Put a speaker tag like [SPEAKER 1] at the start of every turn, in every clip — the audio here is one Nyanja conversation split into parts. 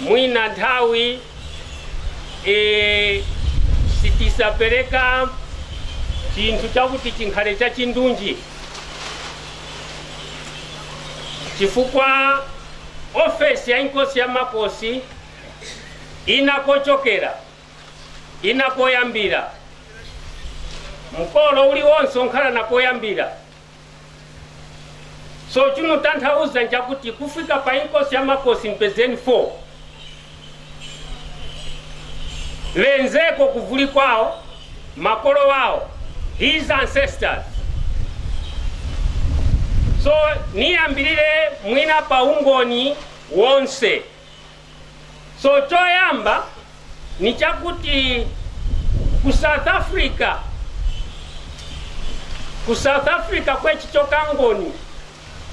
[SPEAKER 1] Mwina nthawi e, sitisapereka chinthu chakuti chinkhale chachindunji chifukwa ofesi ya inkosi ya makosi ina kochokera ina koyambira mkolo uliwonse onkhala na koyambira so chimutanthauza nchakuti kufika pa inkosi ya makosi mpezeni 4 lenzeko kuvuli kwawo makolo wawo his ancestors so niyambirire mwina pa ungoni wonse So choyamba ni chakuti ku South Africa, ku South Africa kwechi chokangoni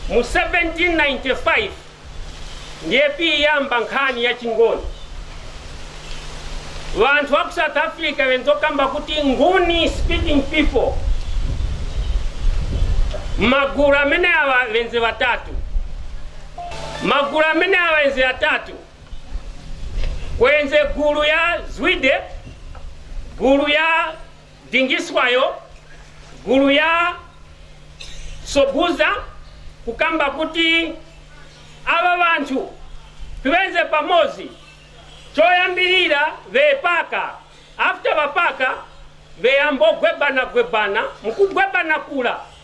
[SPEAKER 1] mu 1795 ndiye piyamba nkhani ya chingoni vanthu wa ku South Africa venzokamba kuti nguni speaking people magulu amene awa venze vatatu Magulu amene awenze atatu kwenze gulu ya Zwide, gulu ya Dingiswayo, gulu ya Soguza kukamba kuti aba banthu tiwenze pamodzi choyambirira bepaka after bapaka beyambogwebana gwebana mukugwebana kula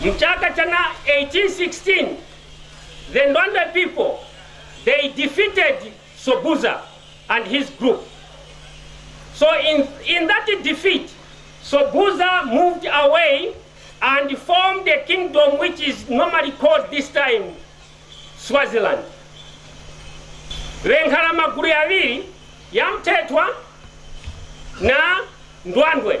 [SPEAKER 1] Mchaka cha 1816 the Ndwandwe people they defeated Sobhuza and his group. So in, in that defeat, Sobhuza moved away and formed a kingdom which is normally called this time Swaziland. Venkhala magulu yaviri yamthethwa na Ndwandwe.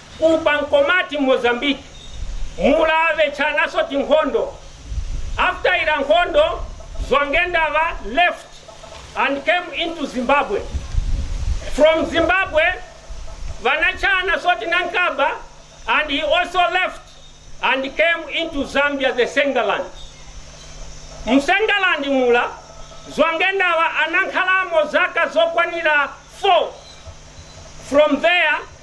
[SPEAKER 1] Kuba Nkomati m'Mozambique mula vechanaso tinkhondo after ira nkhondo Zwangendaba left and came into Zimbabwe from Zimbabwe vanachanaso tinankaba and he also left and came into Zambia the Nsengaland m'Nsengaland mula Zwangendaba anankhalamo zaka zokwanira 4 from there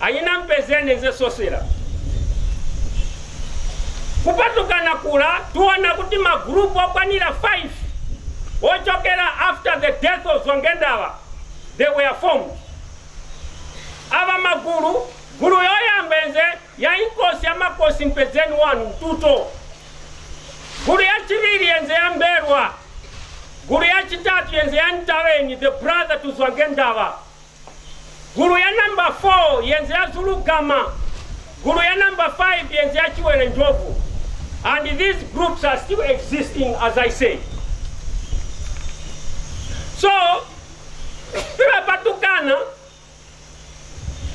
[SPEAKER 1] Anyina mpeze nenze sosera kupatukana kula tiona kuti ma group okwanira 5 ochokera after the death of Zwangendaba they were formed. Awa magulu gulu yoyamba enze ya inkosi ya makosi mpedzeni wanu mtuto gulu ya chibiri yenze ya mberwa gulu ya chitatu yenze ya ntaweni the brother to Zwangendaba Gulu ya number 4 yenze ya Zulu Gama, Gulu ya number 5 yenze ya Chiwere Njobvu and these groups are still existing as I say. So, Philip Atukana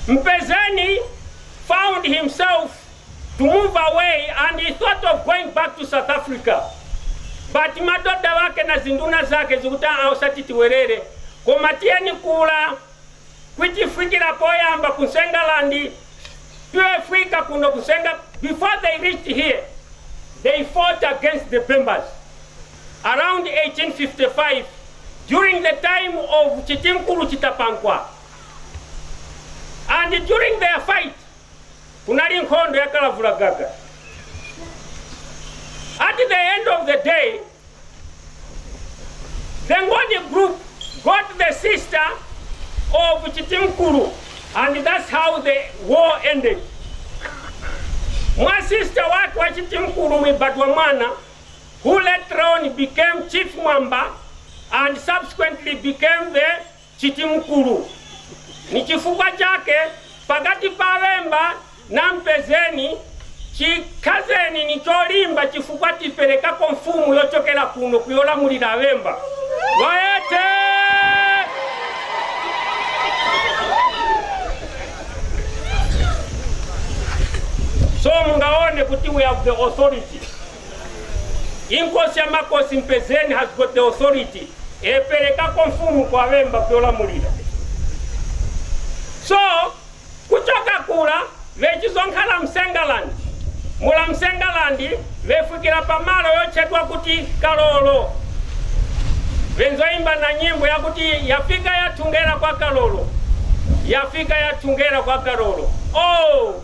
[SPEAKER 1] Mpezeni found himself to move away and he thought of going back to south africa but madoda wake na ziinduna zake zikuti aa osati tiwelele koma tiyeni kula kwitifikila poyamba ku nsengaland tiyefika kuno ku nsenga before they reached here they fought against the bembas around 1855 during the time of chitimkulu chitapankwa and during their fight kunali nkhondo ya kalavula gaga at the end of the day the ngoni group got the sister of chitimkulu and that's how the war ended mwa sister wake wa chitimkulu mwebadwa mwana who later on became chief mwamba and subsequently became the Chitimkulu. Nichifukwa chake pakati pa aBemba na Mpezeni chikazeni nicholimba chifukwa tipelekapo mfumu yochokela kuno kuyolamulila aBemba. Loete! So mungaone kuti we have the authority. Inkosi ya makosi Mpezeni has got the authority eperekako mfumu kwa Bemba vyolamulira so kuchoka kula vechizonkhala msengaland mula msengaland vefikira pamalo yotchedwa kuti kalolo venzoimba na nyimbo yakuti yafika yathungera kwa kalolo yafika yathungera kwa kalolo oh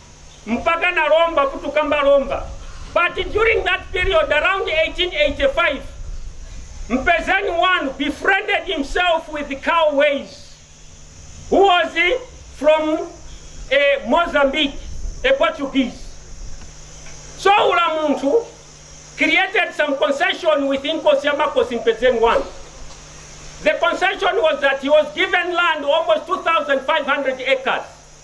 [SPEAKER 1] mpakana lomba kutukamba lomba but during that period around 1885 mpezani one befriended himself with cow ways who was from eh, mozambique a portuguese so ula munthu created some concession with inkosi ya makosi mpezeni one the concession was that he was given land almost 2500 acres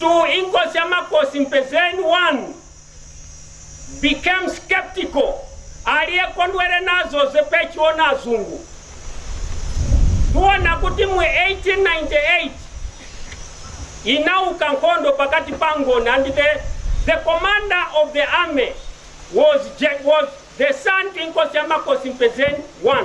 [SPEAKER 1] 2 inkosi ya makosi mpezeni 1 became skeptical aliyekondwere nazo zepechita azungu tiona kuti mu 1898 inauka nkhondo pakati pa angoni and the, the commander of the army was, Je- was the son to inkosi ya makosi mpezeni 1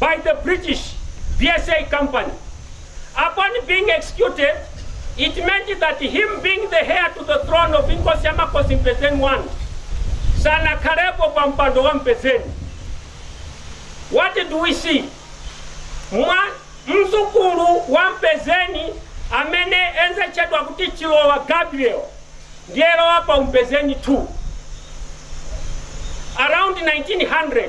[SPEAKER 1] by the British BSA Company. Upon being executed, it meant that him being the heir to the throne of Inkosi ya Makosi Mpezeni 1 sanakhalepo pa mpando wa Mpezeni. What do we see? Mwa mzukulu wa Mpezeni amene enzotchedwa kuti Chilowa Gabriel ndiyelowa pa uMpezeni 2 around 1900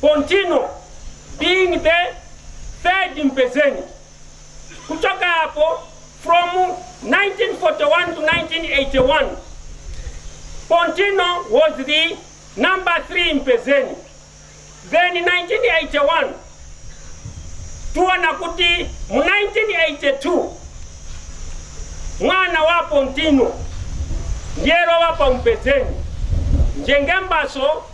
[SPEAKER 1] Pontino being the third Mpezeni kuchoka apo from 1941 to 1981 Pontino was the number three Mpezeni then 1981 tuona kuti mu 1982 mwana wa Pontino ndiye walowa pa Mpezeni njengembaso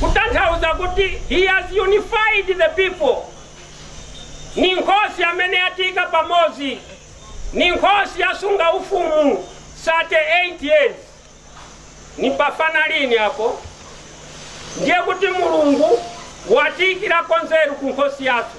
[SPEAKER 1] kutanthauza kuti He has unified the people. Ni nkhosi amene yatiika pamodzi, ni nkhosi yasunga ufumu 38 years. Ni pafana lini apo? Ndiye kuti Mulungu watiikirako nzeru ku nkhosi yafe.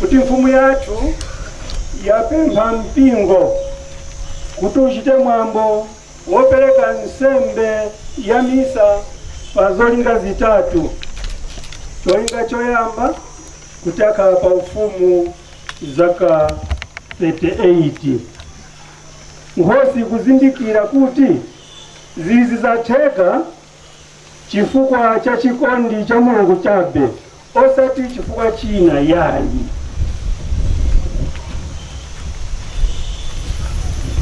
[SPEAKER 1] kuti mfumu yathu yapempha mpingo kuti uchite mwambo wopereka nsembe ya misa pa zolinga zitatu cholinga choyamba kuti akhala pa ufumu zaka 38 nkhosi kuzindikira kuti Zizi zatheka chifukwa cha chikondi cha Mulungu chabe osati chifukwa china yayi.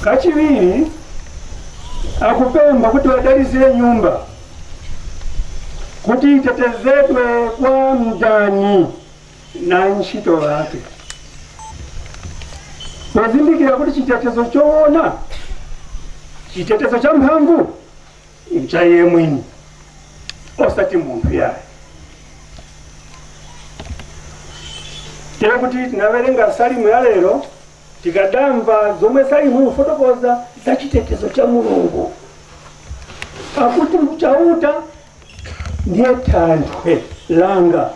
[SPEAKER 1] Kachiwiri akupempha kuti wadalitsire nyumba kuti itetezedwe kwa mdani. na ntchito yake pozindikira kuti chitetezo choona chitetezo cha mphamvu ncha iye mwini osati munthu yaye tere kuti tinawerenga salimu ya lero tikadamva zomwe salimu ifotokoza za chitetezo cha mulungu akuti chauta ndiye thanthwe langa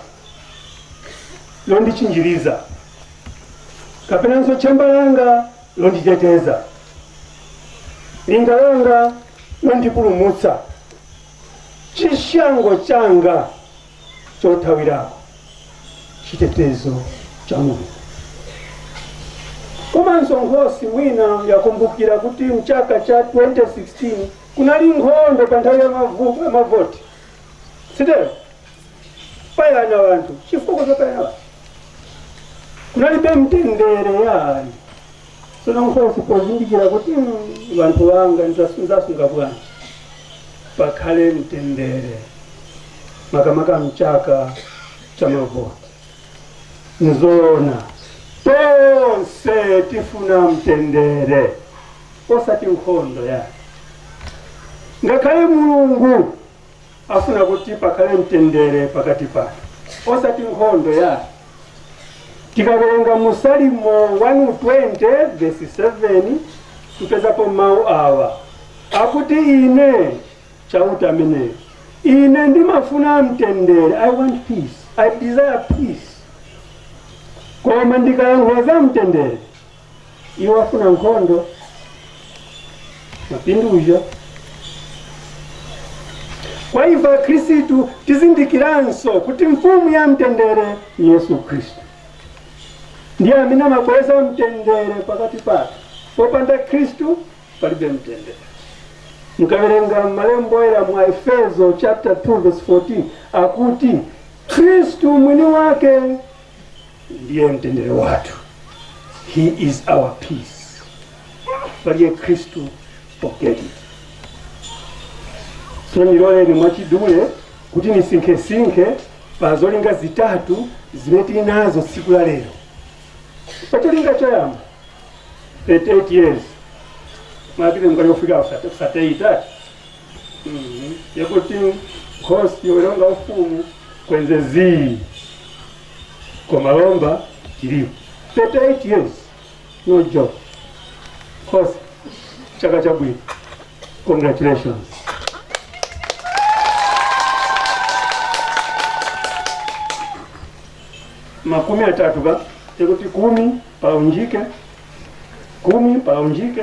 [SPEAKER 1] londichinjiriza kapenanso tchemba langa londiteteza linga langa londipulumutsa chishango changa chothawirako chitetezo cha mulungu komanso nkhosi wina yakumbukira kuti mchaka cha 2016 kunali nkhondo pa nthawi ya mavu- ya mavoti sitero payana wanthu chifukwa chopayana wanthu kunalibe mtendere yani tsono nkhosi pozindikira kuti mm, wanthu anga ndizasunga bwanji pakhale mtendere makamaka mchaka cha mavoti nizoona tonse tifuna mtendere osati nkhondo yayi ngakhale mulungu afuna kuti pakhale mtendere pakati pathu osati nkhondo yayi tikawerenga mu salimo 120 vesi 7 tipezapo mawu awa akuti ine chauta ameneyo ine ndimafuna mtendere i want peace i desire peace koma ndikayankhula za mtendere Iwo afuna nkhondo, mapinduja. Kwa ife Akhristu tizindikiranso kuti mfumu ya mtendere ni Yesu Khristu ndiye amene amabweresa mtendere pakati pathu. Popanda Khristu palibe mtendere. Mukawerenga malembo oyera mu Efeso chapter 2 verse 14 akuti Khristu mwini wake ndiye mtendere wathu he is our peace palibe khristu forget it so niloleni mwachidule kuti nisinkhesinkhe pa zolinga zitatu zimene tili nazo tsiku la lero pa cholinga choyamba 38 years mwapite mukali ofika kusateyitatu yakuti nkhosi yolonga ufumu kwenze zizi koma lomba tilipo 38 years no joke nkhosi chaka chabwino congratulations makumi atatu ka yakuti kumi paunjike kumi paunjike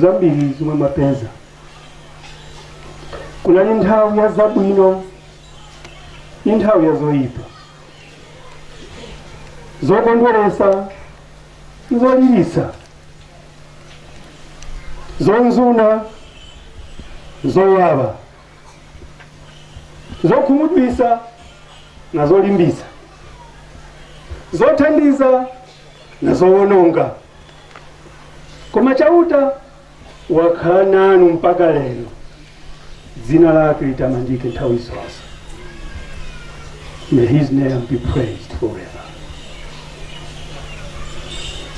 [SPEAKER 1] zambiri zomwe mwapeza kunali nthawi ya zabwino ni nthawi ya zoyipa zokondweresa ndi zolilisa zonzuna zowawa zokhumudwisa na zolimbisa zothandiza na zowononga Koma Chauta wakhala nanu mpaka lero, dzina lake litamandike nthawi zonse. May his name be praised forever.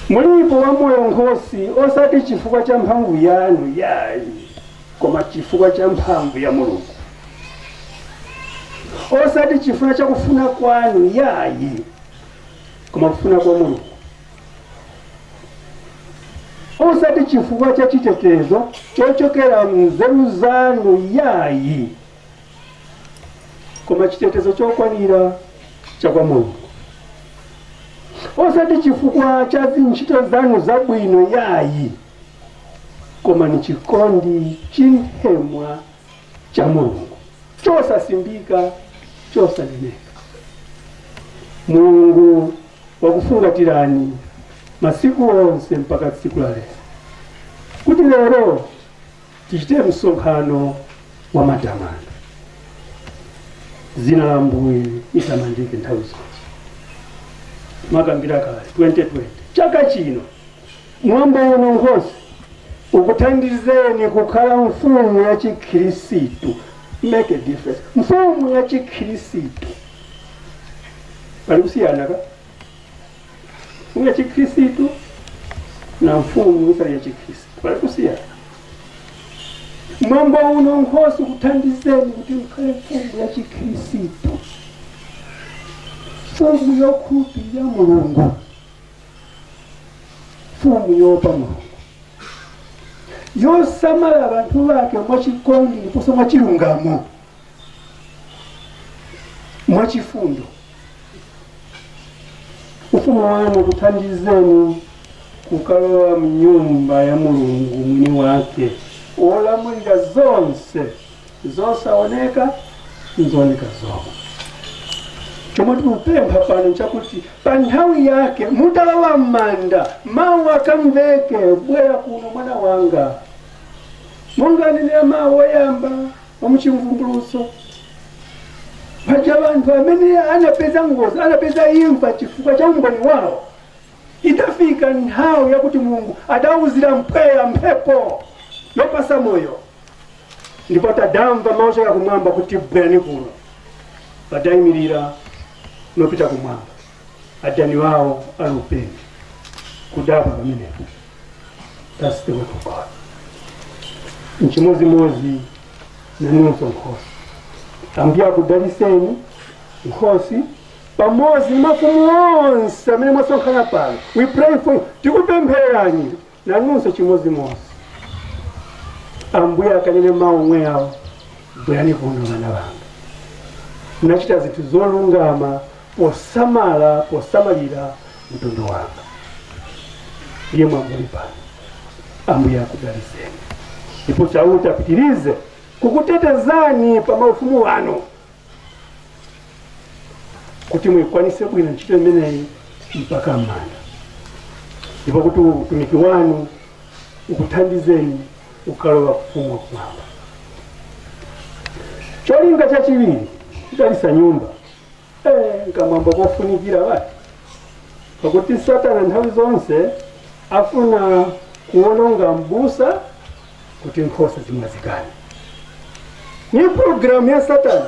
[SPEAKER 1] Mulipo wamoyo nkhosi, osati chifukwa cha mphamvu yanu yayi, koma chifukwa cha mphamvu ya Mulungu, osati chifukwa cha kufuna kwanu yayi, koma kufuna kwa Mulungu. osati chifukwa cha chitetezo chochokera mnzeru zanu yayi koma chitetezo chokwanira cha kwa mulungu osati chifukwa cha zinchito zanu zabwino yayi koma ni chikondi chinthemwa cha mulungu chosasimbika chosaneneka mulungu wakufungatirani masiku onse mpaka tsiku la lero, kuti lero tichite msonkhano wa matamando. Dzina la Ambuye litamandike nthawi zonse. Nakambira kale 2020 chaka chino mwambo uno Nkhosi ukuthandizeni kukhala mfumu ya chikhirisitu make a difference mfumu ya chikhirisitu pali kusiyanaka mfumu ya chikhristu na mfumu isali ya chikhristu pali kusiyana mwambo uno nkhosi ukuthandizeni kuti mkhale mfumu ya chikhristu mfumu yokhulupirira mulungu mfumu yoopa mulungu yosamala abantu bake mwachikondi ndiponso mwachilungamo mwachifundo ufumu wanu ukuthandizeni kukalowa mnyumba ya mulungu mwini wake wolamulira zonse zosaoneka nzooneka zomwe chomwe tikupempha pano chakuti pa nthawi yake mutalowa m'manda mawu akamveke bwera kuno mwana wanga monga anenera mawu oyamba a mu Chivumbulutso. Paja anthu amene anapeza ngozi, anapeza imfa chifukwa cha umboni wawo, itafika nthawi yakuti Mulungu adawuzira mpweya mphepo yopatsa moyo, ndipo adamva mawu ochokera kumwamba kuti bwerani kuno, adayimirira nopita kumwamba. adani wawo alupenya kudabwa pamenepo thats the work of god nchimozimozi nanunso Nkhosi ambuye akudaliseni nkhosi pamodzi ndi mafumu onse amene mwasonkhana pano we pray for you tikupemphererani Nanunso chimodzimodzi. Ambuye akanene mawu omwe awo, bwerani kuno mwana wanga, wachita zinthu zolungama posamala posamalira mtundu wako. Iye mwamuli pano, Ambuye akudaliseni ndipo Chauta apitirize kukutetezani pa maufumu wanu. kuti muikwanise bwino ntchito imeneyi mpaka m'manda ndipo kuti utumiki wanu ukuthandizeni kukalowa ku ufumu wa kumwamba cholinga chachiwiri kudalisa nyumba eh, nkamwambo kofunikira bwanji pakuti satana nthawi zonse afuna kuononga mbusa kuti nkhosa zimwazikane ni programu ya satana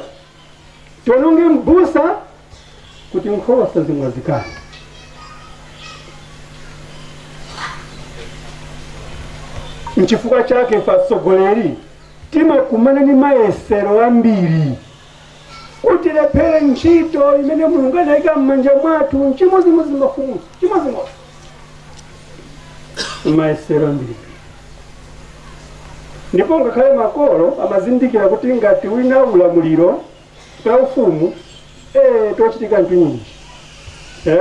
[SPEAKER 1] tiononge mbusa kuti nkhosa zimwazikane nchifukwa chake atsogoleri timakumana ni mayesero ambiri kuti tilephere ntchito imene mulungu anayika m'manja mwathu nchimozimozi mafumu chimozimozi mayesero mbwee ndipo ngakhale makolo amazindikira kuti ngati wina ulamuliro wa ufumu eh, zochitika nthu nyinji eh?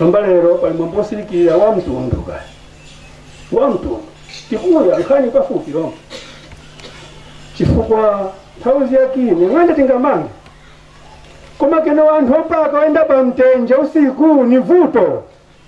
[SPEAKER 1] lomba lero pali mwambo wosirikira wa mtundu kaya wa mtundu tikuya nkhani pafupi lomba chifukwa nthawi ziyakini mwende tingamange koma kene wanthu opaka oyenda pa mtenje usiku ni vuto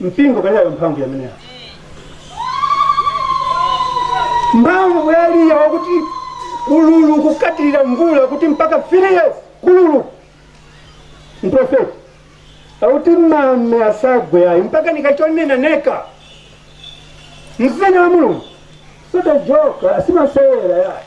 [SPEAKER 1] mpingo palibe mphamvu yameneyo mphamvu ya eliya wakuti ululu kukatirira mvula kuti mpaka three years kululu mprofeti akuti mame asagwe ayi mpaka nikachonena neka mzina wa mulungu sotajoka simasewera yayi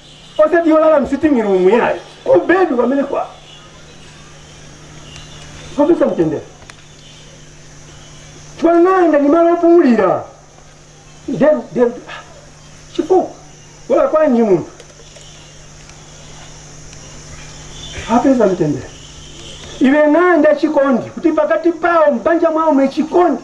[SPEAKER 1] osati yogona msiting room yayi ku bed kwamene wapeza mtendere twananga ni malo opumulira ndem ndem chipo walakwanji munthu apeza mtendere ikhale ng'anda chikondi kuti pakati pawo mbanja mwawo mukhale chikondi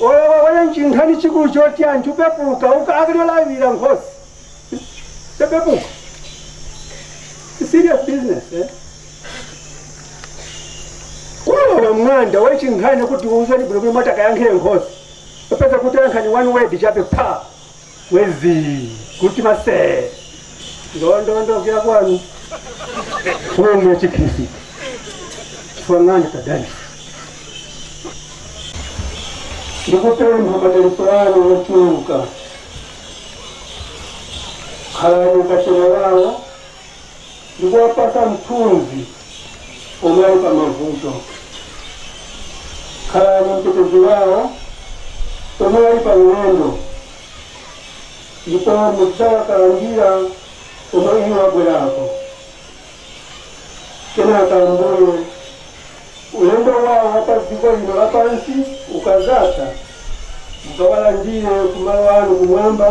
[SPEAKER 1] olowa waya nchinkhani chikulu choti anthu pepuka uka akalolawira nkhosi pepepuka It's serious business eh? kulowa mwanda wachinkhani kuti uzani bwino kuti moti akayankhire nkhosi popeza kuti ankhani one word chape pa mwezi kuti mase ndondondokera kwanu kumene ya chikhristu twang'ani kadalisi ndikupempha madalitso anu ochuluka khalani kachira yawo ndi kuwapatsa mthunzi pomwe ali pa mavuto. Khalani mtetezi wawo pomwe ali pa ulendo ndipo mudzawakalandira komwe iwo abwerako. Kenaka Ambuye Ulendo wawo wa pa dziko lino lapansi ukadzatha, mukawalandire ku malo anu kumwamba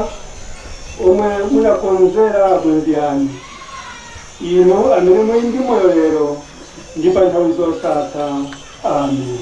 [SPEAKER 1] omwe munakonzera abwenzi anu, inu amene muli ndi moyo lero ndi pa nthawi zosatha. Amen.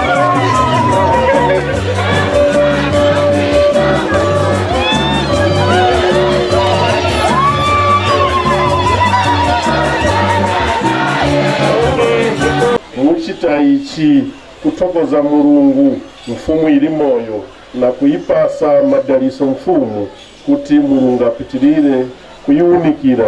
[SPEAKER 1] muchita ichi kuthokoza mulungu mfumu ili moyo na kuipasa madaliso mfumu kuti mulungu apitirire kuyiwunikira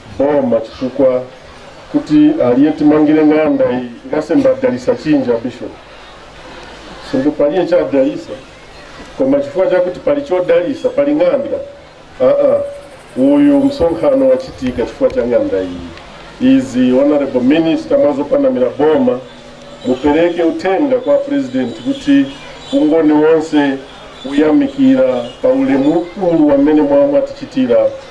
[SPEAKER 1] boma chifukwa kuti aliye timangire ng'anda iyi ngasemba adalisa chinja bishop sindu paliye chadalisa koma chifukwa chakuti pali chodalisa pali ng'anda aa uyu msonkhano wachitika chifukwa cha ng'anda iyi izi honorable minister mwazopanamira boma mupereke uthenga kwa president kuti ungoni wonse uyamikira pa ulemu ukulu wamene mwa mwatichitira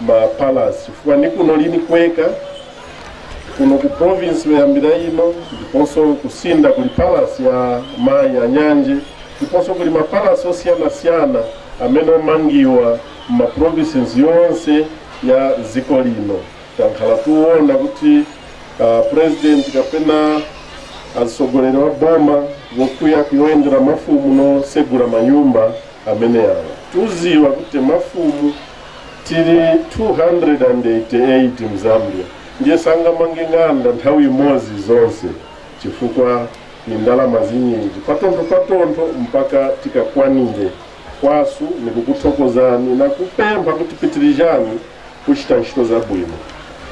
[SPEAKER 1] ma palace chifukwa ni kuno lini kweka kuno ku province yoyambira ino ndiponso ku Sinda kuli palace ya mayi a Nyanje ndiponso kuli mapalasi osiyanasiyana amene omangiwa ma provinces yonse ya dziko lino tankhala tikuona kuti uh, president kapena atsogoleri wa boma wokuya kuyendera mafumu nosegula manyumba amene awa tuziwa kuti mafumu tili 288 mzambia ndiye sangamange ng'anda nthawi imodzi zonse chifukwa ni ndalama zinyinji patontho patontho mpaka tikakwanire kwasu nikukuthokozani nakupempha kuti pitirizani kuchita ntchito zabwino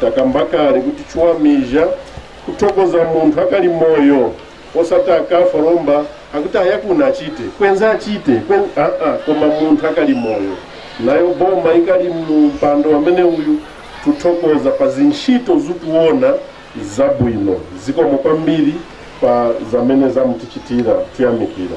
[SPEAKER 1] takambakali kuti chiwamija kuthokoza munthu akali moyo osati akafa lomba akuti ayakuna achite kwenza achite kwen... ah, ah, koma munthu akali moyo nayo boma ikali mpando wamene uyu tuthokoza pa zintchito zituona zabwino zikomo kwambiri pa zamene zamutichitira tuyamikira